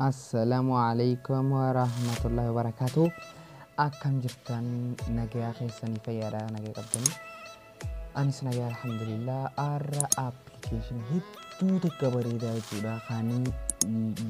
Assalamu alaikum wa rahmatullahi wa barakatuh. Akkam jirtan nagayaa keessanii fayyaadha nagaa qabdanii. Anis nagaa alhamdulillah har'a application hedduu takka bareedaa jechuudha kan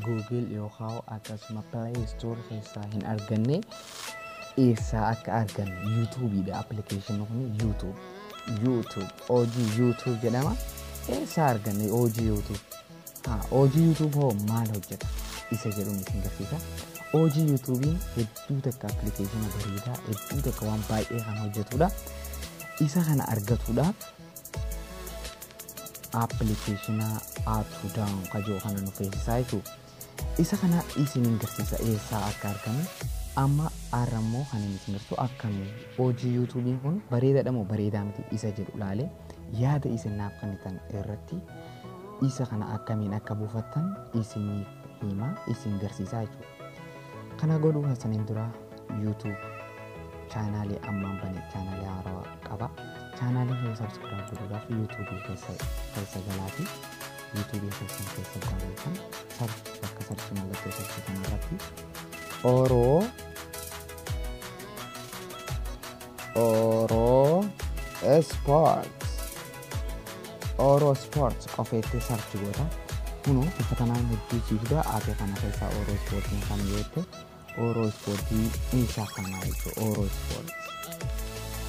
Google yookaan akkasuma Play Store keessaa hin arganne eessaa akka arganne YouTube dha application kun YouTube. YouTube hojii YouTube jedhama eessaa arganne hojii YouTube haa hojii YouTube hoo maal hojjeta isa jedhuun isin garsiisa hojii YouTubein hedduu takka appilikeeshina bareedaa hedduu takka waan baay'ee kan hojjetudha isa kana argatuudhaaf appilikeeshina app down kajoo kana nu feesisaa jechuudha Isa kana isinin garsiisa eessaa akka argamu amma arra immoo kan inni isin garsiisu akkami hojii yuutuubiin kun bareedaadha moo bareedaa miti isa jedhu laale yaada isin naaf kennitan irratti isa kana akkamiin akka buufattan isiniif hima isin garsiisaa jechuudha. Kana godhuu hasaniin dura yuutuub chaanaalii ammaan bane chaanaalii haarawaa qaba. Chaanaalii kana sabskiraayib godhuudhaaf yuutuubii keessa keessa galaatii. yuutuubii keessan keessa barreessan sarchi bakka sarchi mallattoo sarchi kana irratti oroo oroo sport oroo sport qofeettee sarchi goota kunoo bifa kanaan hedduu siifda aatee kana keessaa oroo ispoortiin kan yoo ta'e Ooroo ispoortii ni shaakamaa jechuudha. Ooroo ispoortii.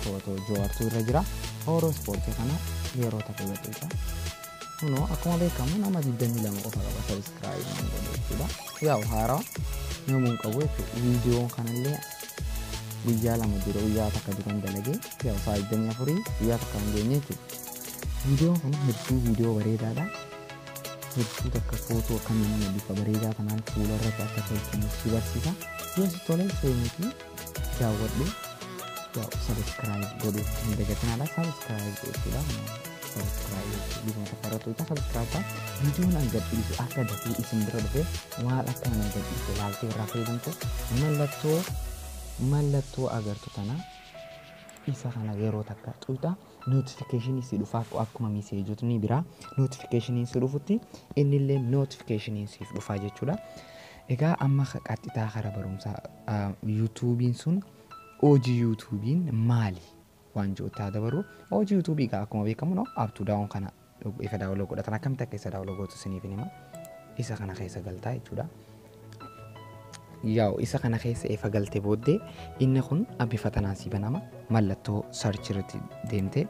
Footoo Jawaartuu irra jira. Ooroo ispoortii kana yeroo takka gadhiisa. Kunoo akkuma beekamu nama 22 qofa qaba sabiskiraayib nama godhe jechuudha. Yaa'u haaraa namuu hin qabu jechuudha. Viidiyoon kanallee guyyaa lama dura guyyaa takka duran dalagee yaa'u sa'a 24 guyyaa takka hin geenye jechuudha. Viidiyoon kun hedduu viidiyoo bareedaadha. hedduu takka footoo akkamiin nama bifa bareedaa kanaan fuula irratti akka tolfamu si barsiisa. Yoo si tole seenuutii daawwadhu yaa'u sabiskiraayib godhu hin dagatinaadha. Sabiskiraayib jechuudha. Sabiskiraayib jechuudha. Bifuma takka irratti hojjeta sabiskiraayib ta'a. Viidiyoon an gadhiisu akka dafee isin bira dhufe maal akka nama gadhiise ilaaltee irraa fayyadamte mallattoo mallattoo agartu tana isa kana yeroo takka xuuxa. notification si dhufa akkuma miseejotni biraa notification si dhufutti innillee notification siif dhufa jechuudha. Egaa amma qaxxitaa kara barumsaa yuutuubiin sun hojii yuutuubiin maali waan jiru taa dabarru hojii yuutuubii egaa akkuma beekamu no up to down kana Dhug isa daawloo godhatan akkamitti akka isa daawloo gootu isiniifin hima isa kana keessa galtaa jechuudha yaa'u isa kana keessa efa galte booddee inni kun bifa tanaan si banama mallattoo sarchi irratti deemte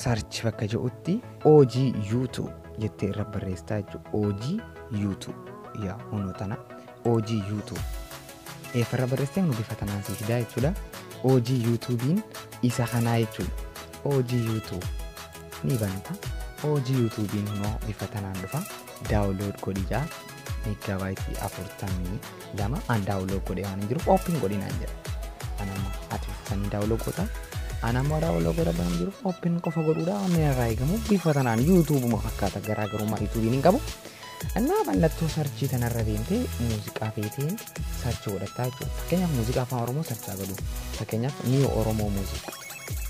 sarchi bakka jedhutti OG YouTube jettee irra barreessaa jechuudha OG YouTube yaa hunoo tana OG YouTube. Eeffarra barreessitee nu bifa tanaan sii fidaa jechuudha. OG YouTube'n isa kanaa jechuudha. OG YouTube ni banta. OG YouTube'n immoo bifa tanaan dhufa. Daawunlood godhi jaa. Meeggaabaaytii afurtamii lama an daawunlood godhe waan hin jiruuf ooppiin godhi naan jedha. An amma ati sanii daawunlood godha. An amma daawunlood godha waan hin jiruuf ooppiin qofa godhuudha. Amma irraa eegamu bifa tanaan YouTube'uma fakkaata garaagarummaa YouTube'n hin qabu. Innaa mallattoo sarchii tanarra deemtee muuziqaa feetee sarchi godhattaa jechuudha. Fakkeenyaaf muuziqaa afaan Oromoo sarchaa godhu. Fakkeenyaaf Niyoo Oromoo muuziq.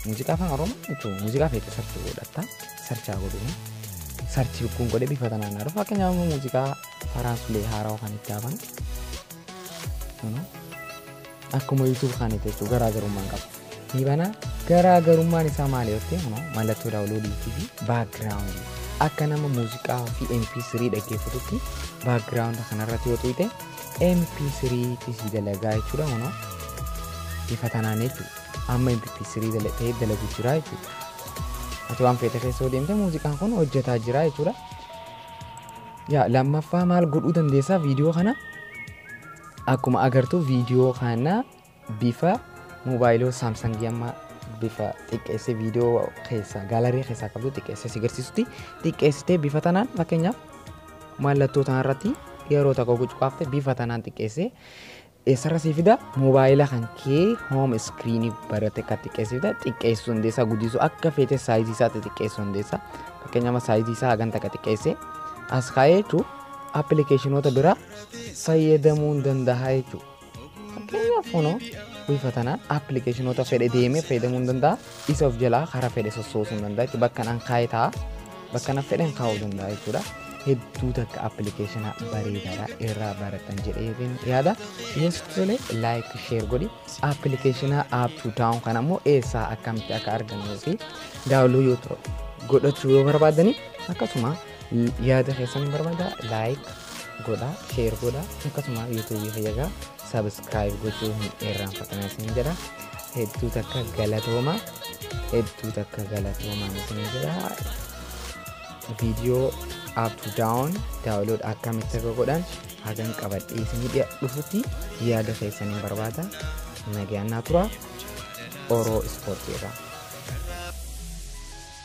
Muuziqaa afaan Oromoo jechuun muuziqaa feetee sarchi godhattaa sarchaa godhu. Sarchi kun godhe bifa tanaan haadha. Fakkeenyaaf immoo muuziqaa Farhaan Sulee haarawa kan itti haafan. Akkuma YouTube kan itti jechuudha garaagarummaan qaba. ni banaa garaa garummaan isaa maali yoo ta'e immoo mallattoo daawunloodiitii fi baakgiraawundii akka nama muuziqaa fi mp3 dhaggeeffatutti baakgiraawunda kanarratti yoo tuqxe mp3 ti si dalagaa jechuudha kunoo bifa tanaan jechuudha amma mp3 dala- ta'ee dalagu jira jechuudha ati waan feete keessa yoo deemte muuziqaan kun hojjetaa jira jechuudha yaa lammaffaa maal godhuu dandeessaa viidiyoo kana akkuma agartu viidiyoo kana Bifa mobaayiloo Saamsangii amma bifa xiqqeessee viidiyoo keessaa gaalarii keessaa qabdu xiqqeessee si garsiisutti xiqqeessitee bifa tanaan fakkeenyaaf mallattoo tanarratti yeroo tokko gucuqaafte bifa tanaan xiqqeessee eessarra si fida moobaayila kan kee hoom iskiriinii barate kan xiqqeessee fida xiqqeessuu hundeessaa guddisuu akka feete saayizii isaatti xiqqeessuu hundeessaa fakkeenyaaf saayizii isaa hagan takka xiqqeessee as kaa'ee jechuun appilikeeshinoota biraa fayyadamuun danda'a jechuudha. Fakkeenyaaf kunoo wiifatanaa appilikeeshinoota fedhe deemee fayyadamuu hin danda'a. Isa of jalaa karaa fedhe sossoosuu hin danda'a. Bakka nan kaa'e ta'a. Bakka nan fedhen kaa'uu danda'a jechuudha. Hedduu takka appilikeeshina bareedaadha irraa barattan jedhee yaada. Yoo sitti tole laayik sheer godhi. Appilikeeshina app to down kana immoo eessaa akkamitti akka argannuu fi daawuloo yoo godhachuu yoo barbaadani akkasuma Yaada keessan hin barbaada laayik godha sheer godha akkasuma yuutuubii fayyagaa sabiskiraayib gochuu hin irraanfatinaa isin jedha hedduu takka galatooma hedduu takka galatooma isin jedha viidiyoo up to down daawunlood akkamitti akka godhan hagan qabadhee isin dhiya dhufutti yaada keessan hin barbaada nagaan naa tura oroo ispoortii irraa.